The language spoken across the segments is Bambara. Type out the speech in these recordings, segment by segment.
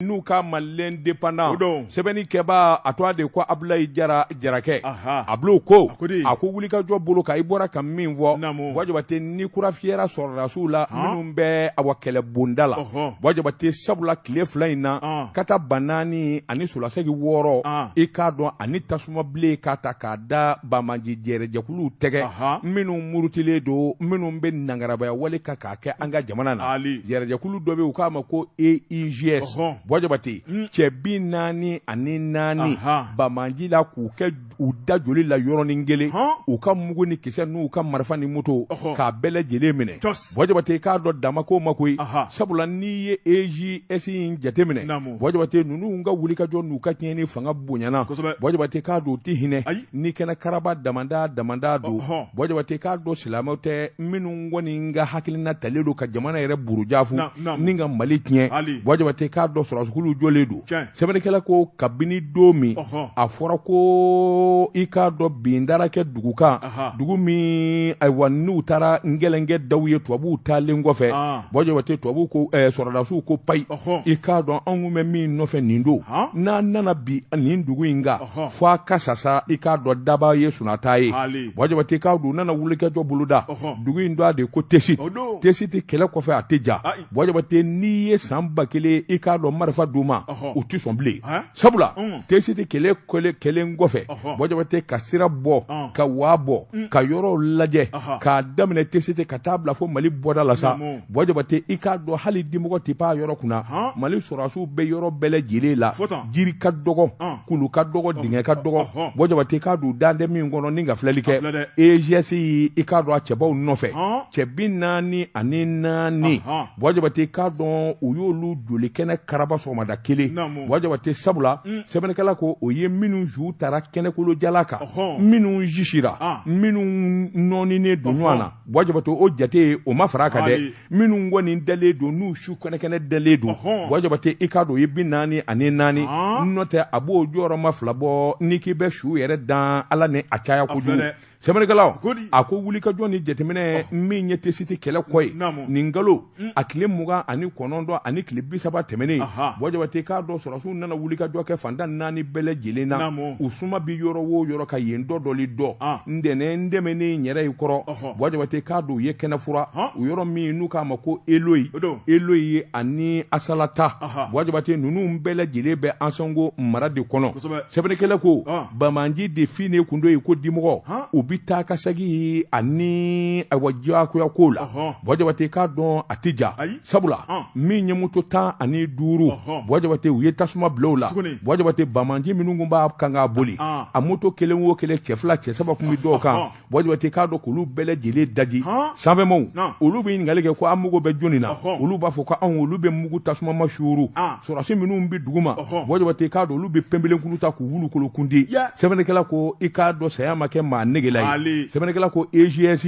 n'u k'a ma L'Indépendant o don sɛbɛnni kɛbaa a tɔgɔ de ko Abulayi Jara Jarakɛ Ahan a bil'o ko a ko di a ko wulikajɔ bolo kan i bɔra ka min fɔ naamu Buwa Jabate ni kura fiyɛra sɔrɔdasiw la han minnu bɛ awa kɛlɛ bonda la ɔhɔɔ Buwa Jabate sabula tile fila in na an kata ba naani ani solasegi wɔɔrɔ an i k'a dɔn ani tasuma bilen k'a ta k'a da banbaanci jɛrɛjɛkuluw tɛgɛ ahan minnu murutilen don minnu bɛ nangarabaya wale kan k'a kɛ an ka jamana na Ali. yɛrɛjɛkulu dɔ bɛ yen u k'a ma ko EIGS Ɔhɔn. Buwa Jabate Mm. cɛ bi naani ani naani Aha. banbaanci la k'u kɛ u da joli la yɔrɔnin kelen Hɔn. u ka mugu ni kisɛ n'u ka marifa ni moto Ɔhɔn. k'a bɛɛ lajɛlen minɛ Cɔs. Buwa Jabate k'a dɔn dama ko ma koyi Aha. sabula n'i ye EIGS in jateminɛ Naamu. Buwa Jabate ninnu ka wulikajɔ n'u ka tiɲɛni fanga bonyana Kosɛbɛ. Buwa Jabate k'a dɔn u tɛ hinɛ Ayi. ni kɛnɛ karaba damanda damanda don Ɔhɔn. Buwa Jabate k'a dɔn silamɛw tɛ minnu kɔni ka hakilina talen don ka jamana yɛrɛ buruja fu ni ka mali tiɲɛ Buwa Jabate k'a dɔn sɔrɔdasiw jɔlen don sɛbɛnnikɛla ko kabini don min a fɔra ko i k'a dɔn bin dara kɛ dugu kan dugu min ayiwa n'u taara n gɛlɛnkɛ daw ye tubabuw taalen kɔfɛ Buwa Jabate tubabu ko eh, sɔrɔdasiw ko payi i k'a dɔn anw bɛ min nɔfɛ nin don n'an nana bin nin dugu in kan fo a ka sasa i k'a dɔn daba ye sunata ye Buwa Jabate k'a dɔn u nana wulikajɔ boloda dugu in tɔgɔ de ko Tesiti Tesiti kɛlɛ kɔfɛ a tɛ ja Buwa Jabate n'i ye san ba kelen i k'a dɔn marifa d'u ma u tɛ sɔn bilen sabula Tesiti kɛlɛ kɛlen kɔfɛ Buwa Jabate ka sira bɔ ka waa bɔ ka yɔrɔw lajɛ k'a daminɛ Tesiti ka taa bila fo mali bɔda la sa Buwa Jabate i k'a dɔn hali dimɔgɔ tɛ pan yɔrɔ kunna mali sɔrɔdasiw bɛ yɔrɔ bɛɛ lajɛlen la jiri ka dɔgɔ kulu ka dɔgɔ dingɛ ka dɔgɔ Buwa Jabate k'a dɔn dan tɛ min kɔnɔ ni ka filɛli kɛ EIGS i k'a dɔn a cɛbaw nɔfɛ cɛ bi naani ani naani Buwa Jabate k'a dɔn u y'olu joli kɛnɛ karaba sɔgɔmada kelen Buwa Jabate sabula sɛbɛnnikɛla ko o ye minnu su taara kɛnɛkolo jalan kan minnu jisira minnu nɔɔninen don ɲɔgɔn na Buwa Jabate o jate o ma fara a kan dɛ minnu kɔni dalen don n'u su kɛnɛkɛnɛ dalen don Buwa Jabate i k'a dɔn o ye bi naani ani naani n'o tɛ a b'o jɔyɔrɔma fila bɔ n'i k'i bɛ su yɛrɛ dan ala ni a caya kojugu sɛbɛnnikɛla a ko wulikajɔ ni jateminɛ min ye tesiti kɛlɛ kɔ ye nin kalo a tile mugan ani kɔnɔntɔn ani tile bi saba tɛmɛnen Buwa Jabate k'a dɔn sɔrɔdasiw nana wulikajɔ kɛ fantan naani bɛɛ lajɛlen na u suma bɛ yɔrɔ o yɔrɔ ka yen dɔ dɔli dɔ ntɛnɛn tɛmɛnen yɛrɛ ye kɔrɔ Buwa Jabate k'a dɔn u ye kɛnɛ furan u yɔrɔ min n'u k'a ma ko eloyi eloyi ye ani asalata Buwa Jabate ninnu bɛɛ lajɛlen bɛ ansɔngo mara de kɔnɔ sɛbɛnnikɛla ko banbanci de fi ne kundo ye ko dimɔgɔ u bɛ taa ka segin ani ayiwa diyagoya ko la bɔn jabate k'a dɔn a tɛ ja sabula min ye moto tan ani duuru bɔn jabate u ye tasuma bila u la bɔn jabate banbanci minnu tun b'a kan k'a boli a moto kelen o kelen cɛ fila cɛ saba tun bɛ dɔw kan bɔ jabate k'a dɔn k'olu bɛɛ lajɛlen daji sanfɛmaw olu bɛ ɲininkali kɛ ko an mugu bɛ jɔnni na olu b'a fɔ ko anw olu bɛ mugu tasuma ma suuru sɔrɔdasi minnu bɛ dugu ma bɔ jabate k'a dɔn olu bɛ pɛnpelenkuru ta k'u wulu kolo kundi sɛbɛnnikɛla ko i k'a dɔn saya ma kɛ maa negela ye sɛbɛnnikɛla ko EJS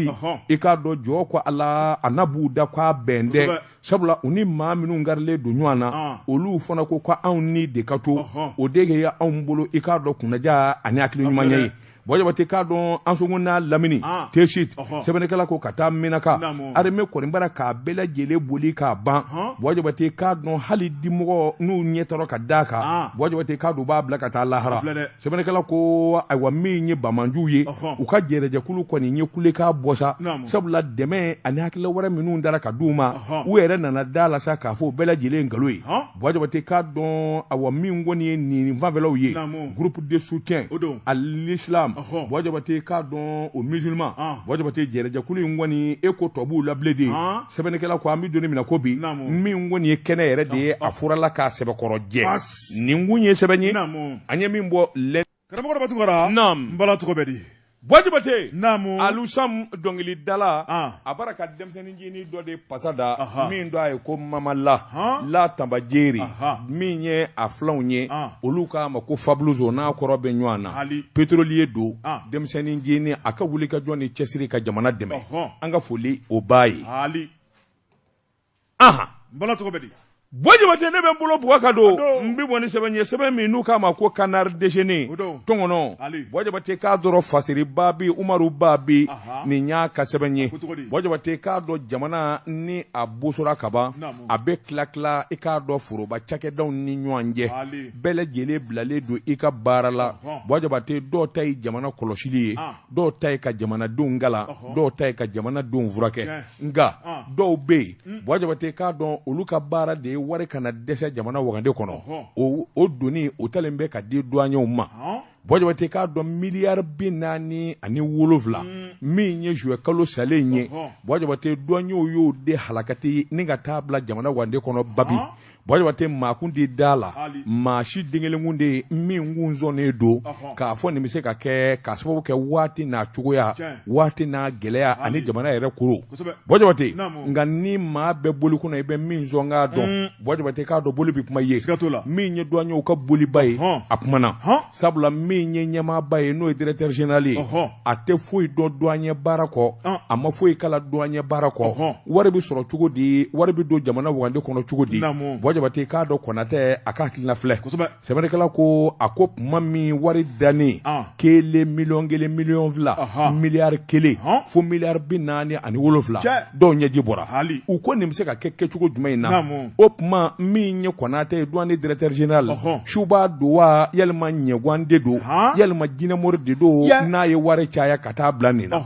i k'a dɔn jɔ ko Ala a na b'u da k'a bɛn dɛ sabula u ni maa minnu karilen don ɲɔgɔn na olu fana ko ko anw ni de ka to o de ye anw bolo i k'a dɔn kunnaja ani hakili ɲuman ye bɔn jabate k'a dɔn ansongo n'a lamini ah. tesit sɛbɛnnikɛla ko ka taa minaka arime kɔni bara k'a bɛɛ lajɛlen boli k'a ban bɔn jabate k'a dɔn hali dimɔgɔ n'u ɲɛ tɔrɔ ka da kan ah. bɔn jabate k'a dɔn b'a bila ka taa lahara sɛbɛnnikɛla ko ayiwa min ye banbanciw ye u ka jɛrɛjɛkulu kɔni ye kulekan bɔ sa sabula dɛmɛ ani hakilila wɛrɛ minnu dara ka di u ma u yɛrɛ nana da la sa k'a fɔ u bɛɛ lajɛlen nkalon ye Bwa jabate k'a dɔn awa min kɔni ye nin fanfɛlaw ye groupe de soutien à l'islam Bwa jabate k'a dɔn aux musulmans Bwa jabate jɛrɛjɛkulu in kɔni e ko tɔ b'u la bilen dɛ sɛbɛnnikɛla ko an bɛ doni min na ko bi min kɔni ye kɛnɛ yɛrɛ de ye a furala k'a sɛbɛkɔrɔ jɛ nin kun ye sɛbɛn ye an ye min bɔ karamɔgɔ dɔ batugara n bala tɔgɔ bɛ di bɔ jabate naamu Alu Sam dɔnkilidala a bara ka denmisɛnnin jini dɔ de fasa da min do a ye ko mamala la tanbajeri min ye a filanw ye olu k'a ma ko fabuzo n'a kɔrɔ bɛ ɲɔgɔn na pétrolier don denmisɛnnin jini a ka wuli ka jɔ n'i cɛsiri ka jamana dɛmɛ an ka foli o b'a ye bala cogo di bɔ jabate ne bɛ n bolo bug ka don n bɛ bɔ ni sɛbɛn ye sɛbɛn min n'u k'a ma ko canard déchaîné tɔnkɔnɔ bɔ jabate k'a dɔrɔn fasiri Babi Umaru Babi nin y'a ka sɛbɛn ye bɔ jabate k'a dɔn jamana ni a bosora kaban a bɛ tila tila i k'a dɔn foroba cakɛdaw ni ɲɔgɔn cɛ bɛɛ lajɛlen bilalen don i ka baara la bɔ jabate dɔ ta ye jamana kɔlɔsili ye dɔw ta ye ka jamanadenw kalan dɔw ta ye ka jamanadenw furakɛ nka dɔw bɛ yen hmm. bɔ jabate k'a dɔn olu ka baara de ye wari kana dɛsɛ jamana wagande kɔnɔ o doni o talen bɛ ka di duwanyew ma bɔ jabate k'a dɔn miliyari bi naani ani wolowula hmm. min ye zuwɛ kalo salen ye bɔ jabate duwanyew y'o de halakati ni ka taa bila jamana wagande kɔnɔ babi bɔ jabate makun de da la maa si den kelen de ye min tun sɔnnen don k'a fɔ nin bɛ se ka kɛ ka sababu kɛ waati n'a cogoya waati n'a gɛlɛya ani jamana yɛrɛ koro bɔ jabate nka ni maa bɛ boli kunna i bɛ min sɔn k'a dɔn boli bɛ kuma ye sika la min ye duwanyew ka boliba ye a kumana sabula min ye ɲɛmaaba ye n'o ye directeur général ye ɔhɔn a tɛ foyi dɔn douanier baara kɔ Ɔn. a ma foyi kalan douanier baara kɔ Ɔhɔn. wari bɛ sɔrɔ cogo di wari bɛ don jamana wagande kɔnɔ cogo di Naamu. bua jabate k'a dɔn kɔnatɛ a ka hakilina filɛ Kosɛbɛ. sɛbɛnnikɛla ko a ko tuma min wari dannen Ɔn. kelen miliyɔn kelen miliyɔn fila Ɔhɔn. miliyari kelen Ɔhɔn. fo miliyari bi naani ani wolonfila Cɛ. dɔw ɲɛji bɔra hali u ko nin bɛ se ka kɛ kɛcogo jumɛn in na o tuma min ye kɔnatɛ ye douane directeur général suba don wa yalima ɲɛguwan de don yalima jinɛmori de don n'a ye wari caya ka taa bila nin na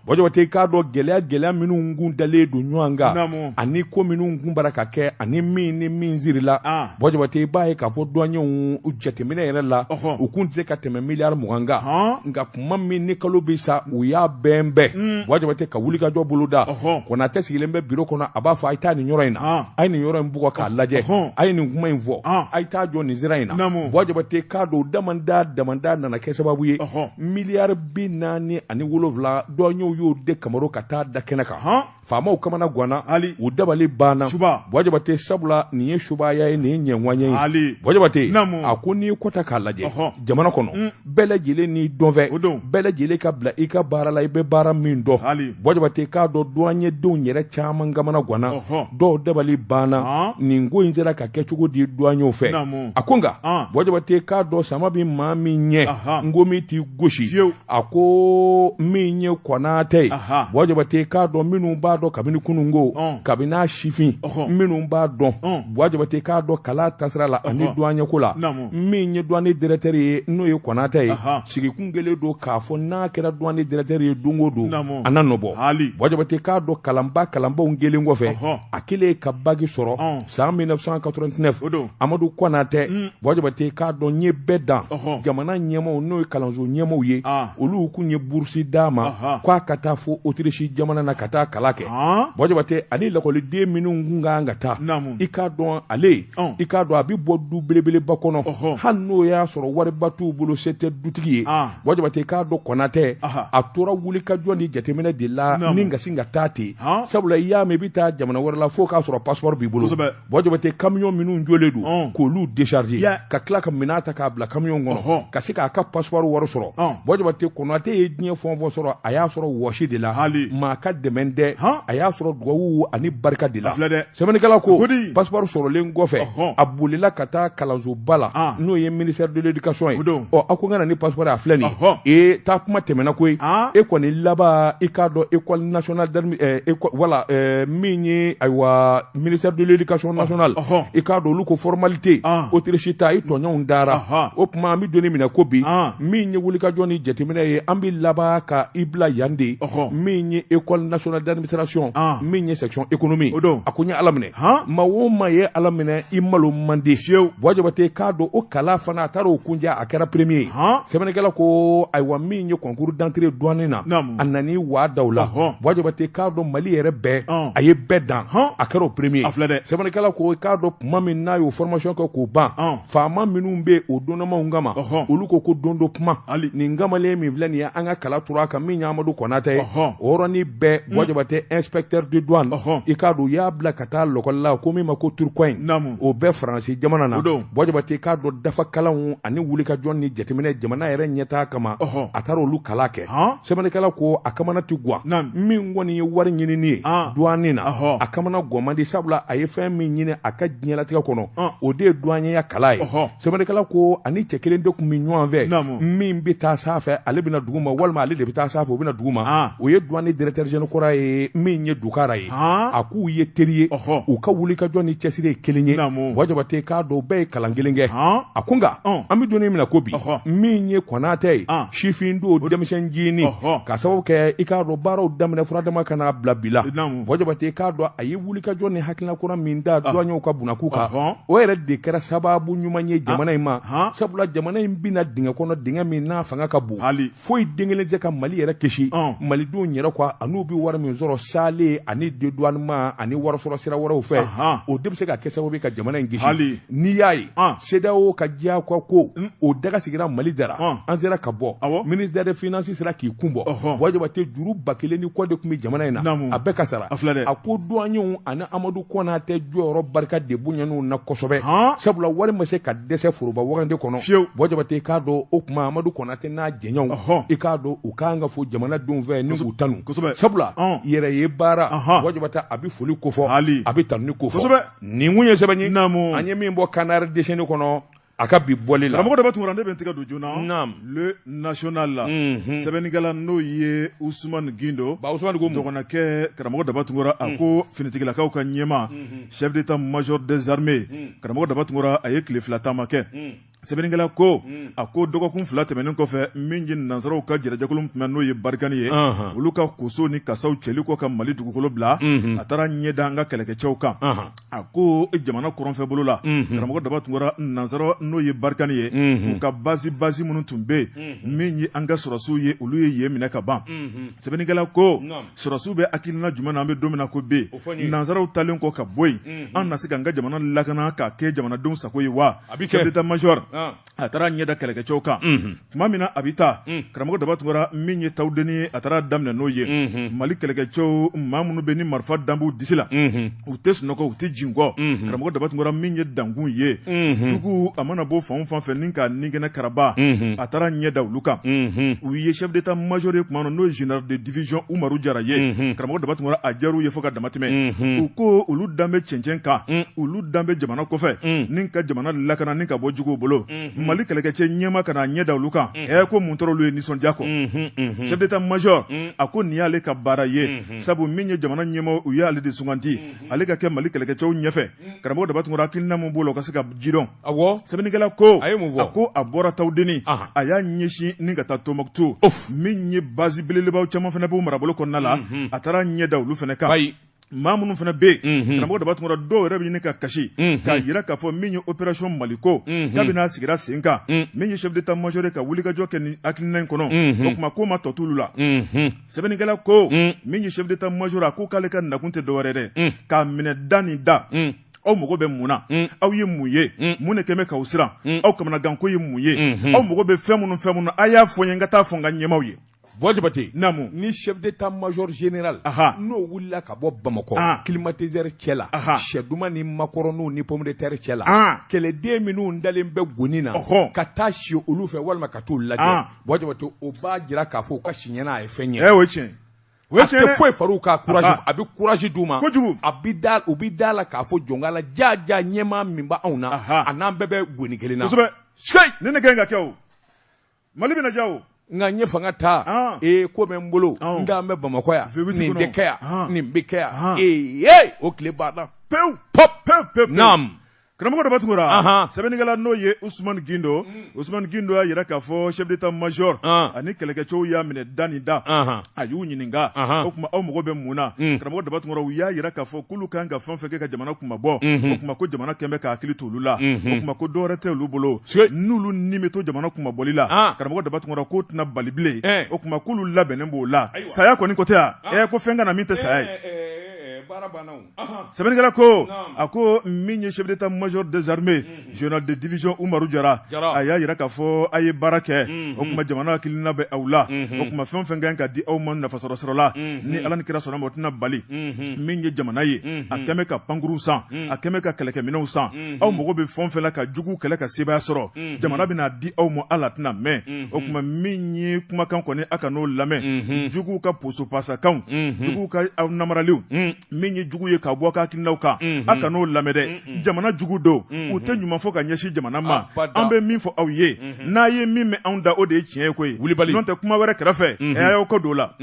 bua jabate i k'a dɔn gɛlɛya gɛlɛya minnu kun dalen don ɲɔgɔn kan ani ko minnu kun bara ka kɛ ani min ni min sirila bua jabate i b'a ye k'a fɔ duwanyɛw jateminɛ yɛrɛ la u kun tɛ se ka tɛmɛ miliyari mugan kan nka tuma min ni kalo bɛ sa u y'a bɛn bɛɛ mm. bua jabate ka wuli ka jɔ boloda kɔnatɛ sigilen bɛ biro kɔnɔ a b'a fɔ a ye taa nin yɔrɔ in na ah. a ye nin yɔrɔ in bugɔ k'a lajɛ a ye nin kuma in fɔ ah. a ye taa jɔ nin sira in na bua jabate k'a dɔn damanda damanda nana kɛ sababu ye miliyari bi naani ani wolonwula duwanyɛw y'o de kama ka taa da kɛnɛ kan faamaw kamana ganna ali u dabali banna suba bua jabate sabula nin ye subaya ye nin ye ɲɛwanya ye ali bua jabate a ko n'i ye ko ta k'a lajɛ jamana kɔnɔ mm. bɛɛ lajɛlen n'i dɔnfɛn o don bɛɛ lajɛlen ka bila i ka baara la i bɛ baara min dɔn ali bua jabate k'a dɔn duwanyedenw yɛrɛ caman kamana ganna dɔw dabali banna nin ko in sera ka kɛ cogo di duwanyew fɛ a ko nka bua jabate k'a dɔn sama bɛ maa min ɲɛ ngɔmi t'i gosi a ko min ye kɔnatɛ ye bua jabate k'a dɔn minnu b'a dɔn kabini kununko kabini a sifin minnu b'a dɔn bua jabate k'a dɔn kalan tasira la ani duanyeko la min ye douane directeur ye n'o ye kɔnatɛ ye sigi kun kɛlen don k'a fɔ n'a kɛra douane directeur ye dɔnko don a n'a nɔ bɔ bua jabate k'a dɔn kalanba kalanbaw kɛlen kɔfɛ a kɛlen ka baki sɔrɔ san 1989 o don amadu kɔnatɛ mm. bua jabate k'a dɔn n ye bɛɛ dan jamana ɲɛmaaw n'o ye kalanso ɲɛmaaw ye ah. olu kun ye burusi d'a ma k'a ka taa fo otirisi jamana na ka taa kalan kɛ ah. bua jabate ani lakɔliden minnu kun ka kan ka taa i k'a dɔn ale oh. i k'a dɔn a bɛ bɔ du belebeleba kɔnɔ hali n'o y'a sɔrɔ wariba t'u bolo se tɛ dutigi ye ah. bua jabate k'a dɔn kɔnatɛ a tora wulikajɔ ni jateminɛ de la ni kasi ka taa ten sabula i y'a mɛn i bɛ taa jamana wɛrɛ la fo k'a sɔrɔ passeport b'i bolo bua jabate camion minnu jɔlen don k'olu décharger ka tila ka minɛn ta k'a bila camion kɔnɔ ka se k'a ka passeport wari sɔrɔ bua jabate kɔnatɛ ye diɲɛ fɛn o fɛn sɔrɔ a y'a sɔrɔ wɔsi de la maa ka dɛmɛ tɛ a y'a sɔrɔ dugawu ani barika de la Sɛbɛnnikɛla ko Godi passeport sɔrɔlen kɔfɛ ɔhɔn a bolila ka taa kalansoba la an n'o ye ministère de l'éducation ye o don ɔ a ko n ka na ni passeport ye a filɛ nin ye ɔhɔn ee taa kuma tɛmɛna koyi an e kɔni laban i k'a dɔn école nationale d'admi ɛɛ éco wala ɛɛ min ye ayiwa ministère de l'éducation nationale ɔhɔn i k'a dɔn olu ko formalité an Autriche ta i tɔɲɔgɔnw taara ɔhɔn o tuma an bɛ don min na ko bi an min ye wulikajɔ ni jateminɛ ye an bɛ laban ka i bila yan de ɔhɔn min ye école nationale d'administration an min ye section économie o don a ko n ye ala minɛ han maa o maa ye ala minɛ i malo man di fiyewu Buwa Jabate k'a dɔn o kalan fana a taara o kuncɛ a kɛra premier ye han sɛbɛnnikɛla ko ayiwa min ye concours d'entrée douane na naamu a nani waa daw la hɔn Buwa Jabate k'a dɔn mali yɛrɛ bɛɛ ɔn a ye bɛɛ dan hɔn a kɛra o premier a filɛ dɛ sɛbɛnnikɛla ko k'a dɔn tuma min n'a y'o formation kɛ k'o ban ɔn faama minnu bɛ o donnamaw kama olu ko ko don dɔ kuma nin kamalen min filɛ nin ye an ka kala turu a kan min ye Amadu Konatɛ ye o yɔrɔnin bɛɛ hmm. Buwa Jabate inspecteur de douane i k'a dɔn u y'a bila ka taa lakɔli la ko min ma ko Tourcoing o bɛ Faransi jamana na Buwa Jabate i k'a dɔn dafakalanw ani wulikajɔ ni jateminɛ jamana yɛrɛ ɲɛtaa kama a taara olu kalan kɛ. sɛbɛnnikɛla ko a kamana tɛ gwan min kɔni ye wari ɲinini ye douane na a kamana gwan man di sabula a ye fɛn min ɲini a ka diɲɛlatigɛ kɔnɔ o de ye douanierya kalan ye sɛbɛnnikɛla ko a ni cɛ kelen de tun bɛ ɲɔgɔn fɛ min bɛ taa san fɛ ale bɛ na duguma walima ale de bɛ taa san fɛ o bɛ na duguma o ye douane directeur général kɔrɔ ye min ye dukara ye a k'u ye teri ye u ka wulikajɔ ni cɛsiri ye kelen ye Buwa Jabate k'a dɔn u bɛɛ ye kalan kelen kɛ a ko nka an bɛ don min na ko bi min ye Konatɛ ye sifin don denmisɛn jini k'a sababu kɛ i k'a dɔn baaraw daminɛ fura dama ka n'a bila bi la Buwa Jabate i k'a dɔn a ye wulikajɔ ni hakilina kura min da douaniers ka bunakuu kan o yɛrɛ de kɛra sababu ɲuman ye jamana in ma sabula jamana in binna dingɛ kɔnɔ dingɛ min n'a fanga ka bon foyi den kelen tɛ ka mali yɛrɛ kisi malidenw yɛrɛ kɔ an'u bɛ wari min sɔrɔ saalen ani dédouanement ani warisɔrɔ sira wɛrɛw fɛ o de bɛ se ka kɛ sababu ka jamana in kisi n'i y'a ye CEDEAO ka diyagoya ko hmm. o daga sigira Mali da la an sera ka bɔ ministère de finance sera k'i kun bɔ Buwa Jabate juru ba kelen ni kɔ de tun bɛ jamana in na a bɛɛ ka sara a ko douaniers ani Amadu Kɔnatɛ jɔyɔrɔ barika de bonyana u na kosɛbɛ sabula wari ma se ka dɛsɛ foroba wagande kɔnɔ fiyewu Buwa Jabate i k'a dɔn o tuma Amadu Kɔnatɛ n'a jɛɲɔgɔnw i k'a dɔn u ka kan ka fo jamanadenw fɛ ni k'u tanu sabula yɛrɛ ye baara Buwa Jabate a bɛ foli kofɔ a bɛ tanuni kofɔ. nin tun ye sɛbɛn ye naamu an ye min bɔ Canard déchaîné kɔnɔ a ka bi bɔli la karamɔgɔ daba tunkara ne bɛ n tigɛ don joona naamu le national la mhm. sɛbɛnnikɛla n'o ye usumani gindo ba usumani ko dɔgɔnɔkɛ karamɔgɔ daba tunkara a mhm. ko finitigilakaw ka ɲɛmaa mhm. chef d'état major des armées karamɔgɔ daba tunkara a ye tile fila taama kɛ sɛbɛnnikɛla ko hmm. a ko dɔgɔkun fila tɛmɛnen kɔfɛ min ye nansaraw ka kɛlɛjɛkulu tun n'o ye barikani ye olu ka koso ni kasaw cɛli kɔ ka mali dugukolo bila hmm. a taara ɲɛ da an ka kɛlɛkɛcɛw kan a ko jamana kɔrɔnfɛ bolo la hmm. karamɔgɔ Daba Tunkara nansara n'o ye barikani ye u ka basi basi minnu tun bɛ yen min ye an ka sɔrɔdasiw ye olu ye yen minɛ ka ban sɛbɛnnikɛla ko sɔrɔdasiw bɛ hakilina jumɛn na an bɛ don min na ko bi nansaraw taalen kɔ ka bɔ yen an na se ka an ka jamana lakana ka kɛ jamanadenw sago ye wa chef d'état major a taara ɲɛ da kɛlɛkɛcɛw kan tuma min na a bɛ taa karamɔgɔ Daba Tunkara min ye Tawudeni a taara daminɛ n'o ye mali kɛlɛkɛcɛw maa minnu bɛ ni marifa dalen b'u disi la u tɛ sunɔgɔ u tɛ jingɔ karamɔgɔ Daba Tunkara min ye dankun ye jugu a mana bɔ fan o fan fɛ ni ka nin kɛnɛ karaba a taara ɲɛ da olu kan o ye chef d'état major ye o tuma n'o ye général de division Umaru Jara ye unhun karamɔgɔ Daba Tunkara a diyar'u ye fo ka dama tɛmɛ unhun u ko olu dalen bɛ cɛncɛn kan un olu dalen bɛ jamana kɔfɛ un ni ka jamana lakana ni ka bɔ juguw bolo unhun Mali kɛlɛkɛcɛ ɲɛmaa ka n'a ɲɛ da olu kan un ɛ ko mun tora olu ye nisɔndiya kɔ unhun unhun chef d'état major un a ko nin y'ale ka baara ye unhun sabu min ye jamana ɲɛmɔgɔ o y'ale de sugandi unhun ale ka kɛ Mali kɛlɛkɛcɛw ɲɛfɛ karamɔgɔ Daba Tunkara hakilina min b'o la o ka se ka jidɔn A sɛbɛnnikɛla ko a ye mun fɔ a ko a bɔra Tawudeni a y'a ɲɛsin ni ka taa Tumutu min ye basi belebelebaw caman fana b'o marabolo kɔnɔna la a taara ɲɛ da olu fana kan maa minnu fana bɛ yen karamɔgɔ Daba Tunkara dɔw yɛrɛ bɛ ɲini ka kasi k'a jira k'a fɔ min ye opération Maliko kabini a sigira sen kan min ye chef d'état major ka wulikajɔ kɛ nin hakilina in kɔnɔ o tuma k'o ma tɔ t'olu la sɛbɛnnikɛla ko min ye chef d'état major a ko k'ale ka nakun tɛ dɔwɛrɛ dɛ k'a minɛ da ni da aw mago bɛ mun na mm. aw ye mun ye mm. mun de kɛlen bɛ k'aw siran mm. aw kamanaganko ye mun ye mm-hmm. aw mago bɛ fɛn minnu fɛn minnu a y'a fɔ n ye n ka taa fɔ n ka ɲɛmaaw ye Buwa Jabate, naamu, ni chef d'état major général, aha, n'o wulila ka bɔ Bamakɔ, ah. climatiseur cɛ la, aha, sɛ duman ni makɔrɔniw ni pomme de terre cɛ la, ah. kɛlɛden minnu dalen bɛ goni na, ɔhɔ, ka taa si olu fɛ walima ka t'u lajɛ, ah. Buwa Jabate, o b'a jira k'a fɔ u ka si ɲɛna a ye fɛn ye. Ɛ eh, o ye tiɲɛ ye. O ye tiɲɛ ye dɛ. A tɛ foyi far'u ka courage Aha. a bɛ courage d'u ma. Kojugu. A bɛ da u bɛ da a la k'a fɔ jɔn ko Ala jaa jaa ɲɛmaa min bɛ anw na. Aha. A n'an bɛɛ bɛ goni kelen na. Kosɛbɛ. Sikeyi. Nin de ka ɲi ka kɛ o. Mali bɛna diya o. nka n ye fanga ta Ɔn. ee ko bɛ n bolo Ɔn. n dalen bɛ bamakɔ yan Vewiti nin kɔnɔ. bɛ kɛ yan Ɔn. nin bɛ kɛ yan Ɔn. ee ee o tile banna Pewu. pɔp Pewu pewu. pewu. Naam. Karamɔgɔ Daba Tunkara sɛbɛnnikɛla n'o ye Usumani Gindo Usumani Gindo y'a jira k'a fɔ chef d'état major ani kɛlɛkɛcɛw y'a minɛ da ni da a y'u ɲininka o tuma aw mago bɛ mun na karamɔgɔ Daba Tunkara u y'a jira k'a fɔ k'olu kan ka fɛn o fɛn kɛ ka jamana kunmabɔ o tuma ko jamana kɛlen bɛ ka hakili t'olu la o tuma ko dɔwɛrɛ tɛ olu bolo n'olu ni bɛ to jamana kunmabɔli la karamɔgɔ Daba Tunkara k'o tɛna bali bilen o tuma k'olu labɛnnen b'o la saya kɔni ko tɛ e ko fɛn ka na min tɛ saya ye sɛbɛnnikɛla ko a ko min ye chef d'état major des armées général de division umaru jara a y'a jira k'a fɔ a ye baara kɛ o tuma jamana ka hakilina bɛ aw la o tuma fɛn o fɛn ka kan ka di aw ma nafasɔrɔ sɔrɔla ni ala ni kira sɔnn'a ma o tɛna bali min ye jamana ye a kɛmɛ ka pankurunw san a kɛmɛ ka kɛlɛkɛminɛnw san aw mago bɛ fɛn fɛn na ka jugu kɛlɛ ka sebaaya sɔrɔ jamana bɛn'a di aw ma hal'a tɛna mɛn o tuma min ye kumakan kɔni aw kan'o lamɛn jugu ka posopasakanw jugu ka aw namaraliw min ye jugu ye ka bɔ aw ka hakilinaw kan aw kan'o lamɛn dɛ jamana jugu don u tɛ ɲuman fɔ ka ɲɛsin jamana ma an bɛ min fɔ aw ye n'a ye min mɛn an da o de ye tiɲɛ ye koyi nɔntɛ kuma wɛrɛ kɛrɛfɛ a y'aw kɔ don o la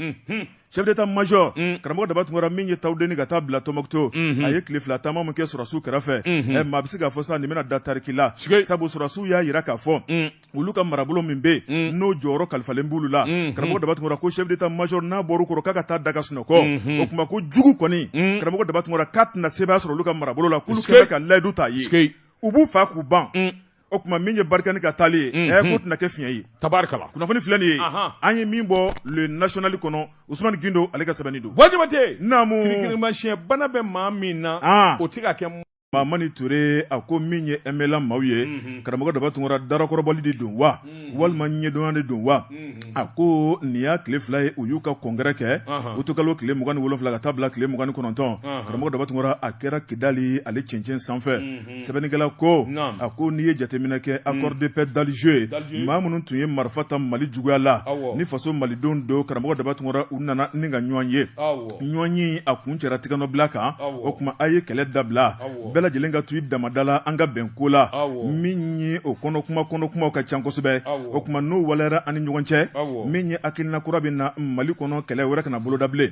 chef d'état major mm. karamɔgɔ daba tunkara min ye tawudeni ka taa bila tɔnbukutu mm -hmm. a ye tile fila taama min kɛ sɔrɔsiw kɛrɛfɛ mm -hmm. eh, maa bɛ se k'a fɔ sa nin bɛna da tariki la sabu sɔrɔsiw y'a yira k'a fɔ mm. olu ka marabolo min bɛ mm. n'o jɔyɔrɔ kalifalen b'olu la mm -hmm. karamɔgɔ daba tunkara ko chef d'état major n'a bɔr'u kɔrɔ k'a ka taa da ka sunɔgɔ mm -hmm. o tuma ko jugu kɔni mm. karamɔgɔ daba tunkara k'a tɛna sebaaya sɔrɔ olu ka marabolo la k'olu kɛlen ka layidu ta ye u b'u faa k'u ban mm. o tuma min ye barikani ka taali ye ɛ eh, k'o tɛna kɛ fiɲɛ ye tabarikala kunnafoni filɛ nin ye an ye min bɔ le national kɔnɔ usumani gindo ale ka sɛbɛnni don wajibate naamu kirikirimasiyɛn bana bɛ maa min na ah. o tɛ ka kɛ mamani ture a ko min ye mla maaw ye mhm. karamɔgɔ daba tunkara darakɔrɔbɔli de don wa mhm. walima ɲɛdɔnya de don wa mhm. a ko nin y'a tile fila ye u y'u ka kɔnkɛrɛ kɛ utukalo tile mugan ni wolonfila ka taa bila tile mugan ni kɔnɔntɔn karamɔgɔ daba tunkara a kɛra kidali ale cɛncɛn sanfɛ Mm. sɛbɛnnikɛla ko a ko n'i ye jateminɛ kɛ mm. accord de paix d'Alger ye maa minnu tun ye marifa ta Mali juguya la ni faso malidenw don karamɔgɔ daba tunkara u nana ni ka ɲɔgɔn ye ɲɔgɔn ye a kuncɛra tigɛnɔbila kan o tuma a ye kɛlɛ dabila bɛɛ lajɛlen ka to i dama da la an ka bɛn ko la min ye o kɔnɔ kuma kɔnɔ kumaw ka ca kosɛbɛ o tuma n'o waleyara an ni ɲɔgɔn cɛ min ye hakilina kura bɛ na Mali kɔnɔ kɛlɛ wɛrɛ kana boloda bilen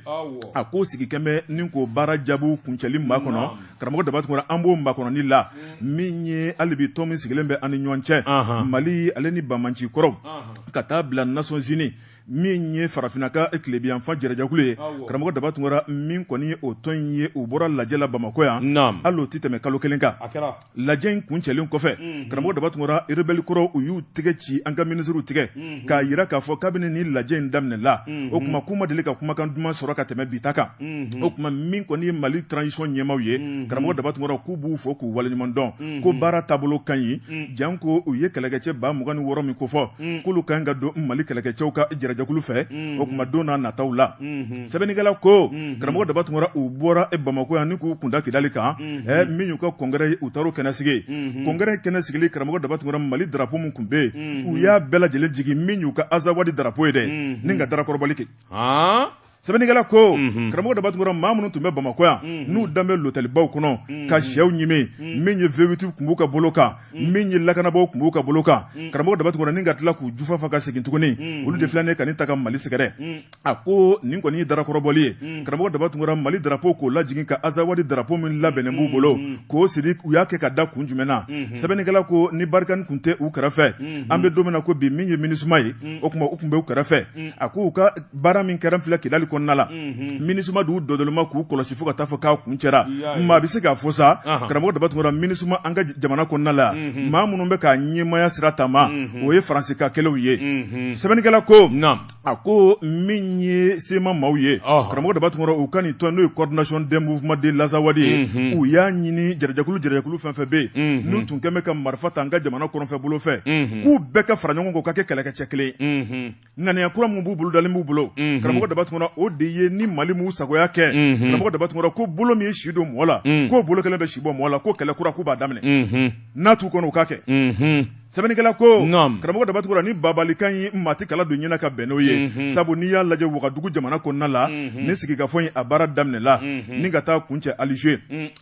a ko sigi kɛnbɛ ni k'o baara jaabiw kuncɛli makɔnɔ karamɔgɔ daba tunkara an b'o makɔnɔni la min ye hali bi tɔn min sigilen bɛ an ni ɲɔgɔn cɛ mali ale ni banbaanci kɔrɔw ka taa bila nations unies min ye farafinna ka tilebinyanfan jarajɛkulu ye karamɔgɔ daba tunkara min kɔni ye o tɔn in ye u bɔra lajɛ la bamakɔ yan hal'o tɛ tɛmɛ kalo kelen kan lajɛ in kuncɛlen kɔfɛ karamɔgɔ daba tunkara rebɛli kɔrɔw u y'u tɛgɛ ci an ka minisiriw tigɛ k'a jira k'a fɔ kabini ni lajɛ in daminɛ la o tuma k'u ma deli ka kumakan duman sɔrɔ ka tɛmɛ bi ta kan o tuma min kɔni ye mali transition ɲɛmaw ye karamɔgɔ daba tunkara k'u b'u fo k'u waleɲuman dɔn ko baara taabolo ka ɲi janko u ye kɛlɛkɛcɛ ba mugan ni wɔɔrɔ min kofɔ k'olu ka ɲi ka don mali kɛlɛkɛcɛw ka jarajɛkulu fɛ o tuma don n'a nataw la sɛbɛnnikɛla ko karamɔgɔ daba tunkara u bɔra bamako yan ni k'u kun da kidali kan min y'u ka kɔnkɛrɛ ye u taar'o kɛnɛ sigi kɔnkɛrɛ kɛnɛ sigili karamɔgɔ daba tunkara mali darapo min tun bɛ yen mm-hmm. u y'a bɛɛ lajɛlen jigi min y'u ka azawadi darapo ye dɛ mm-hmm. ni ka darakɔrɔbɔli kɛ sɛbɛnnikɛla ko mhm. karamɔgɔ daba tunkara maa minnu tun bɛ bamakɔ yan mhm. n'u dalen bɛ lotɛlibaw kɔnɔ mhm. ka syɛw ɲimi min ye vewiti tun b'u ka bolo kan min ye lakanabaaw tun b'u ka bolo kan karamɔgɔ daba tunkara ni ka tila k'u jufa fa ka segin tuguni olu de filɛ ni ka nɛgɛ ta ka mali sɛgɛrɛ a ko nin kɔni ye darakɔrɔbɔli ye mm. karamɔgɔ daba tunkara mali darapo k'o lajigin ka azawadi darapo min labɛnnen b'u mm, bolo mm, k'o siri u y'a kɛ ka da kun jumɛn na mm-hmm. sɛbɛnnikɛla ko ni barikani kun tɛ u kɛrɛfɛ mm-hmm. an bɛ don min na ko bi min ye minisuma ye o tuma u tun bɛ u kɛrɛfɛ a ko u ka baara min kɛra filɛ kidali kɔnɔna la mm-hmm. minisuma d'u dɔdɔlima k'u kɔlɔsi fo ka taa fɔ k'a kuncɛra maa bɛ se k'a fɔ sa karamɔgɔ daba tunkara minisuma an ka jamana kɔnɔna la maa minnu bɛ k'a ɲɛmaaya sira taama o ye faransi ka kɛlenw ye sɛbɛnnikɛla ko a ko min ye sema maaw ye karamɔgɔ daba tunkara u ka nin tɔn n'o ye coordination des mouvements de l'azawad ye u y'a ɲini jɛkulu jɛkulu fɛn fɛn bɛ yen n'u tun kɛlen bɛ ka marifa ta an ka jamana kɔrɔnfɛ bolo fɛ k'u bɛɛ ka fara ɲɔgɔn kan ka kɛ kɛlɛkɛcɛ kelen ŋaniya kura min bolodalen b'u bolo karamɔgɔ daba tunkara o de ye ni mali m'u sagoya kɛ karamɔgɔ daba tunkara ko bolo min ye si don mɔgɔ la k'o bolo kelen bɛ si bɔ mɔgɔ la ko kɛlɛ kura k'u b'a daminɛ n'a t'u kɔnɔ u ka kɛ Sɛbɛnnikɛla ko karamɔgɔ daba tunkara ni bagabagalikan ye maa tɛ kala don ɲɛ na ka bɛn n'o ye sabu n'i y'a lajɛ wagadugu jamana kɔnɔna la ni sigikafɔ in a baara daminɛla ni ka taa kuncɛ alize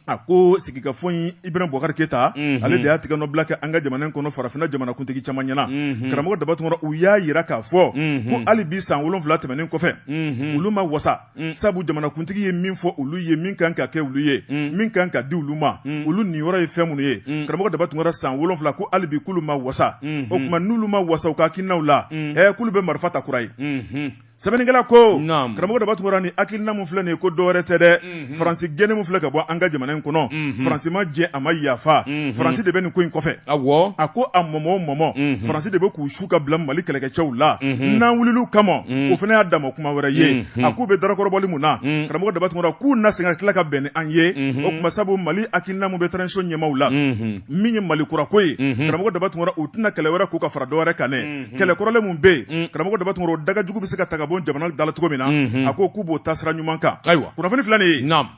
a ko sigikafɔ in ibrahim bubakari keyita ale de y'a tɛgɛnɔbila kɛ an ka jamana kɔnɔ farafinna jamanakuntigi caman ɲɛ na karamɔgɔ daba tunkara u y'a jira k'a fɔ ko hali bi san wolonwula tɛmɛnen kɔfɛ olu ma wasa mm. sabu jamanakuntigi ye min fɔ olu ye min kan ka kɛ olu ye mm. min kan ka di olu ma mm. olu niyɔrɔ ye fɛn minnu ye mm. karamɔgɔ daba tunkara san wolonfila ko hali bi k'olu ma wasa mm -hmm. o tuma n'olu ma wasa u ka hakilinaw la mm. eh, k'olu bɛ marifa ta kura ye mm -hmm. sɛbɛnnikɛla ko karamɔgɔ daba tunkara ni hakilina min filɛ nin ye ko dɔwɛrɛ tɛ dɛ mhm. faransi gɛnni min filɛ ka bɔ an ka jamana in kɔnɔ mhm. faransi ma jɛn a ma yafa mhm. faransi de bɛ nin ko in kɔfɛ a ko a mɔmɔ o mɔmɔ faransi de bɛ k'u k'u ka bila mali kɛlɛkɛcɛw la n'an wulila u kama o fana y'a dama kuma wɛrɛ ye a k'u bɛ dakɔrɔbɔli min na karamɔgɔ daba tunkara k'u na sen ka tila ka bɛn ni an ye o tuma sabu mali hakilina min bɛ faso ɲɛmaaw la min ye mali kurako ye karamɔgɔ daba tunkara u tɛna kɛlɛ wɛrɛ k'u ka fara dɔw wɛrɛ kan kɛlɛ kɔrɔlen minnu bɛ yen karamɔgɔ daba tunkara o danga jugu bɛ se ka ta ka bɔ jamana da cogo min na a ko k'u b'o taasira ɲuman kan ayiwa kunnafoni fila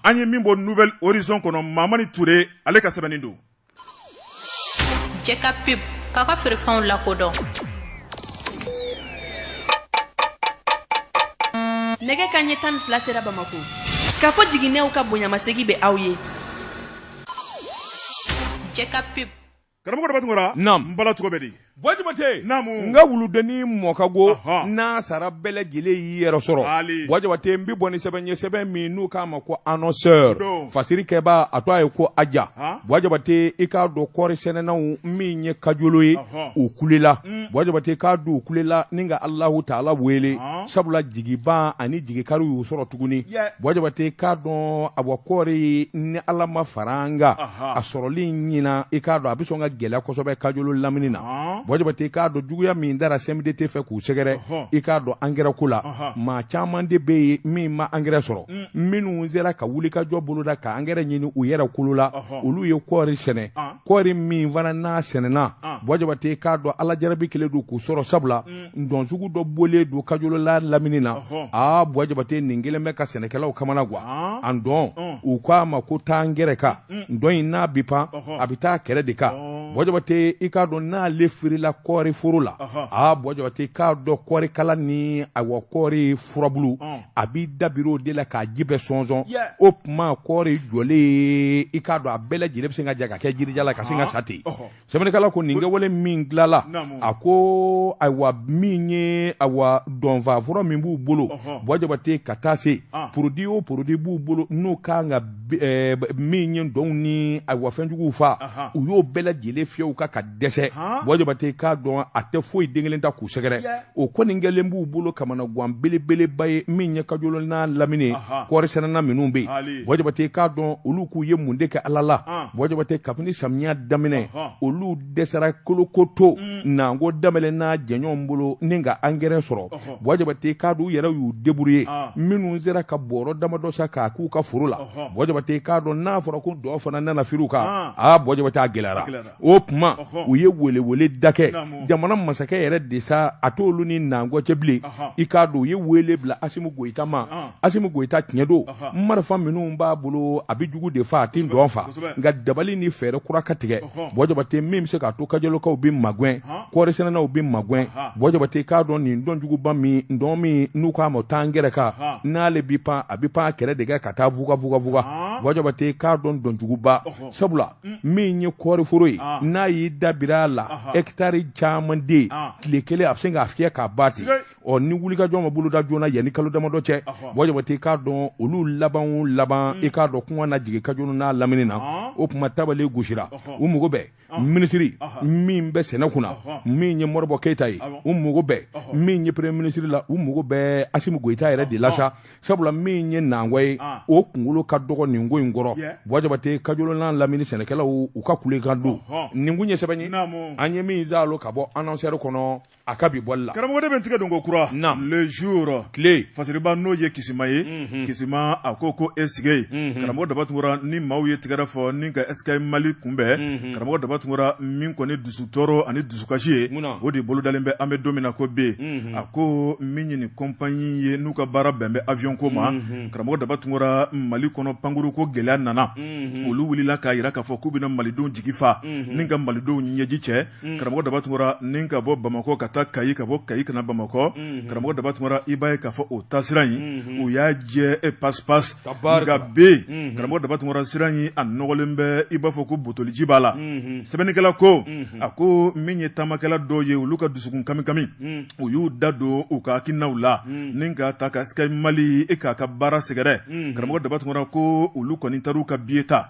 an ye min bɔ nouvel horizon kɔnɔ mamani ture ale ka sɛbɛnni don Cɛ ka pep k'a ka feerefɛnw lakodɔn nɛgɛ kan ɲɛ tan ni fila sera bamakɔ kafo jiginɛw ka bonyamasegin bɛ aw ye cɛ ka pep karamɔgɔ daba tunkara, naamu, n bala tɔgɔ bɛ di Buwa jabate nka wuludennin mɔ ka go n'a sara bɛɛ lajɛlen y'i yɛrɛ sɔrɔ buwa jabate n bɛ bɔ ni sɛbɛn ye sɛbɛn min n'u k'a ma ko annonceur fasirikɛba a to a ye ko a ja buwa jabate i k'a dɔn kɔɔrisɛnɛnaw min ye kajolo ye u kulela buwa jabate k'a dɔn u kulela ni ka alahu taala wele sabula jigiban ani jigikari y'u sɔrɔ tuguni buwa jabate k'a dɔn awa kɔɔri ni ala ma fara an kan a sɔrɔli ɲinan i k'a dɔn a bɛ sɔn ka gɛlɛya kosɛbɛ kajolo lamini na buwa jabate i k'a dɔn juguya min dara sɛden tɛ fɛ k'u sɛgɛrɛ i k'a dɔn angɛrɛ ko la maa caman de bɛ yen min ma angɛrɛ sɔrɔ minnu sera ka wulikajɔ boloda ka angɛrɛ ɲini u yɛrɛ kolo la olu ye kɔɔri sɛnɛ kɔɔri min fana n'a sɛnɛna buwa jabate i k'a dɔn ala jarabi kelen don k'u sɔrɔ sabula dɔnjugu dɔ bɔlen don kajolo lamini na aa buwa jabate nin kelen bɛ ka sɛnɛkɛlaw kamanagan a dɔn u k'a ma ko taa n kɛrɛ kan dɔn in n'a bi pan a bɛ taa kɛrɛ de kan buwa jabate i k'a dɔn n'ale firila kɔɔri foro la aa buwa jabate k'a dɔn kɔɔrikala ni awa kɔɔri furabulu a b'i dabiri o de la k'a ji bɛɛ sɔnsɔn o tuma kɔɔri jɔlen i k'a dɔn a bɛɛ lajɛlen bɛ se ka ja ka kɛ jirijalan ka sin ka sa ten sɛbɛnnikɛla ko nin kɛwale min dilala a ko ayiwa min ye ayiwa dɔnfa fura min b'u bolo buwa jabate ka taa se ah. porodi o porodi b'u bolo n'o kan ka eh, min ye dɔnw ni ayiwa fɛnjuguw fa u y'o bɛɛ lajɛlen fiyɛ u kan ka dɛsɛ buwa jabate k'a dɔn a tɛ foyi den kelen ta k'u sɛgɛrɛ o kɔni kɛlen b'u bolo kamanagan belebeleba ye min ye kajolo n'a lamini kɔɔrisɛnɛna minnu bɛ yen buwa jabate k'a dɔn olu k'u ye mun de kɛ ala la buwa jabate kabini samiya daminɛ olu dɛsɛra kolokoto mm. n'an ko daminɛ n'a jɛɲɔgɔn bolo ni ka angɛrɛ sɔrɔ buwa jabate k'a dɔn u yɛrɛ y'u deburuye minnu sera ka bɔrɔ damadɔ san k'a k'u ka foro la buwa jabate k'a dɔn n'a fɔra ko dɔ fana nana firi u kan aa buwa jabate a gɛlɛyara o tuma u ye weeleweele de kɛ jamana masakɛ yɛrɛ de sa a t'olu ni nankɔ cɛ bilen i k'a dɔn u ye weele bila asimi goyita ma asimi goyita tiɲɛ don marifa minnu b'a bolo a bɛ jugu de fa a tɛ dɔn fa nka dabali ni fɛɛrɛ kura ka tigɛ buwa jabate min bɛ se k'a to kajolokaw bɛ magɛn kɔɔrisɛnɛnaw bɛ magɛn buwa jabate k'a dɔn nin dɔnjuguba min don min n'u k'a ma taa n kɛrɛ kan n'ale bɛ pan a bɛ pan kɛrɛ de kan ka taa bugabugabuga buwa jabate k'a dɔn dɔnjuguba sabula min ye kɔɔriforo ye ah. n'a y'i dabiri a la hɛkitari caman de ye ah. tile kelen a bɛ se k'a fiyɛ k'a ban ten ɔ ni wulikajɔ ma boloda joona yanni kalo damadɔ cɛ buwa jabate i k'a dɔn olu labanw laban hmm. i k'a dɔn kuma na jigin kajolo n'a lamini na ah. o tuma tabale gosira u mago bɛ minisiri min bɛ sɛnɛ kunna min ye modibo keyita ye u mago bɛ min ye premier minisiri la u mago bɛ asimi goyita yɛrɛ de la sa sabula min ye nangwa ye ah. o kunkolo ka dɔgɔ nin ko in kɔrɔ bɔjabate kajolo n'a lamini sɛnɛkɛlaw u ka kulekan don nin kun ye sɛbɛn ye an ye min zalo ka bɔ anɔnsɛri kɔnɔ a ka bi bɔli la karamɔgɔ de bɛ tigɛ don ko kura le jour tile fasiriba n'o ye kisima ye mhm. kisima a ko ko e sigi mhm. karamɔgɔ daba tunkara ni maaw ye tɛgɛrɛ fɔ ni ka sky mali kunbɛn mhm. karamɔgɔ daba tunkara min kɔni dusu tɔɔrɔ ani dusu dusukasi ye o de bolodalen bɛ an bɛ don min na ko bi a ko min ye nin kɔnpanyi ye n'u ka baara bɛn bɛ awiyɔnko ma karamɔgɔ daba tunkara mali kɔnɔ pankuruko gɛlɛya nana olu wulila k'a jira k'a fɔ k'u bɛna malidenw jigifa ni ka malidenw ɲɛji cɛ karamɔgɔ daba tunkara ni ka bɔ bamakɔ ka taa kayi ka bɔ kayi ka na bamakɔ karamɔgɔ daba tunkara i b'a ye k'a fɔ o taasira in u y'a jɛ e pap barika bɛ karamɔgɔ daba tunkara sira in a nɔgɔlen bɛ i b'a fɔ ko butoliji b'a la sɛbɛnnikɛla ko a ko min ye taamakɛla dɔw ye olu ka dusukun kami kami u y'u da don u ka hakilinaw la ni ka taa ka sky mali e k'a ka baara sɛgɛrɛ karamɔgɔ daba tunkara ko olu kɔni taar'u ka biye ta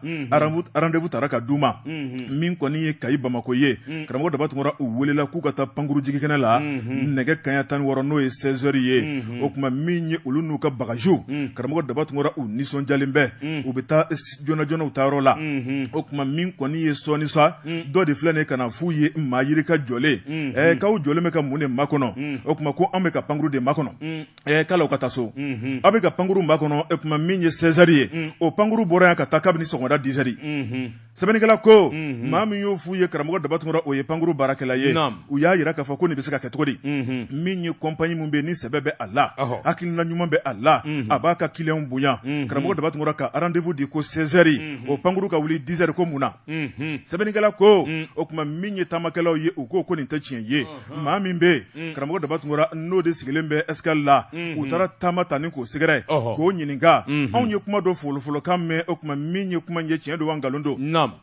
randevu tara ka d'u ma min kɔni ye kayi bamakɔ ye karamɔgɔ daba tunkara u welela k'u ka taa pankuru jigikɛnɛ la nɛgɛ kanɲɛ tan ni wɔɔrɔ n'o ye sɛzɛri ye o tuma min ye olu n'u ka bagaziw karamɔgɔ daba tunkara u nisɔndiyalen bɛ u bɛ taa joona joona u taayɔrɔ la o tuma min kɔni ye sɔɔni sa dɔ de filɛ nin ka na f'u ye maa yirika jɔlen k'aw jɔlen bɛ ka mun de makɔnɔ o tuma ko an bɛ ka pankuru de makɔnɔ ɛ k'aw ka taa so aw bɛ ka pankuru makɔnɔ o tuma min ye sɛzɛri ye o pankuru bɔra yan ka taa kabini sɔgɔmada dizɛri sɛbɛnnikɛla ko maa min y'o f'u ye karamɔgɔ daba tunkara o ye pankuru baarakɛla ye u y'a jira k'a fɔ ko nin bɛ se ka kɛ cogo di min ye kɔnpanyi min bɛ ni sɛbɛ bɛ a la hakilina ɲuman bɛ a la a b'a ka kiliyan bonya karamɔgɔ daba tunkara ka randevu di ko sɛzɛri o pankuru ka wuli dizɛri ko mun na sɛbɛnnikɛla ko o tuma min ye taamakɛlaw ye u ko ko nin tɛ tiɲɛ ye maa min bɛ yen karamɔgɔ daba tunkara n'o de sigilen bɛ ɛsikali la u taara taama tan ni k'o sɛgɛrɛ k'o ɲininka anw ye kuma dɔ folofolokan mɛn o tuma min ye kuma ye tiɲɛ don nkalon don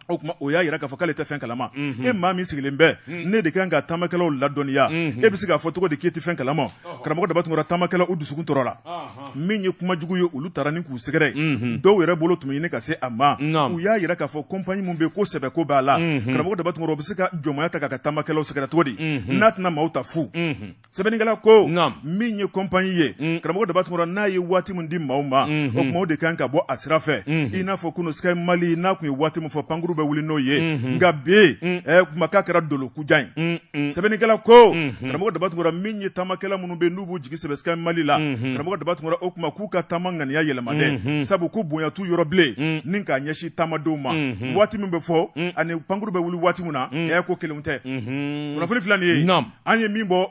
o tuma o y'a jira k'a fɔ k'ale tɛ fɛn kalama mhm. e maa min sigilen bɛ mhm. ne de kan ka taamakɛlaw ladɔnniya mhm. e bɛ se k'a fɔ cogo di k'i tɛ fɛn kalama karamɔgɔ daba tunkara taamakɛlaw u dusukun tɔɔrɔla min ye kuma jugu ye olu taara ni k'u sɛgɛrɛ dɔw yɛrɛ bolo tun bɛ ɲini ka se a ma u y'a jira k'a fɔ kɔnpanyi min bɛ yen ko sɛbɛ ko b'a la karamɔgɔ daba tunkara u bɛ se ka jɔnmaya ta k'a ka taamakɛlaw sɛgɛrɛ cogo di n'a tɛna maaw ta fu sɛbɛnnikɛla ko min ye kɔnpanyi ye mm. karamɔgɔ daba tunkara n'a ye waati min di maaw ma mm-hmm. o tuma o de kan ka bɔ a sira fɛ mm-hmm. i n'a fɔ kunun sky mali n'a tun ye waati min fɔ pankuru bɛ wuli n'o ye mm-hmm. nka bi mm. eh, kuma k'a kɛra dolokujan ye mm, sɛbɛnnikɛla ko karamɔgɔ daba tunkara min ye taamakɛla minnu bɛ n'u b'u jigi sɛmɛ sky mali la karamɔgɔ daba tunkara o tuma k'u ka taama ŋaniya yɛlɛma dɛ sabu ko bonya t'u yɔrɔ bilen ni k'a ɲɛsin taamadenw ma waati min bɛ fɔ ani pankuru bɛ wuli waati na ko kelen tɛ kunnafoni filɛ nin ye an ye min bɔ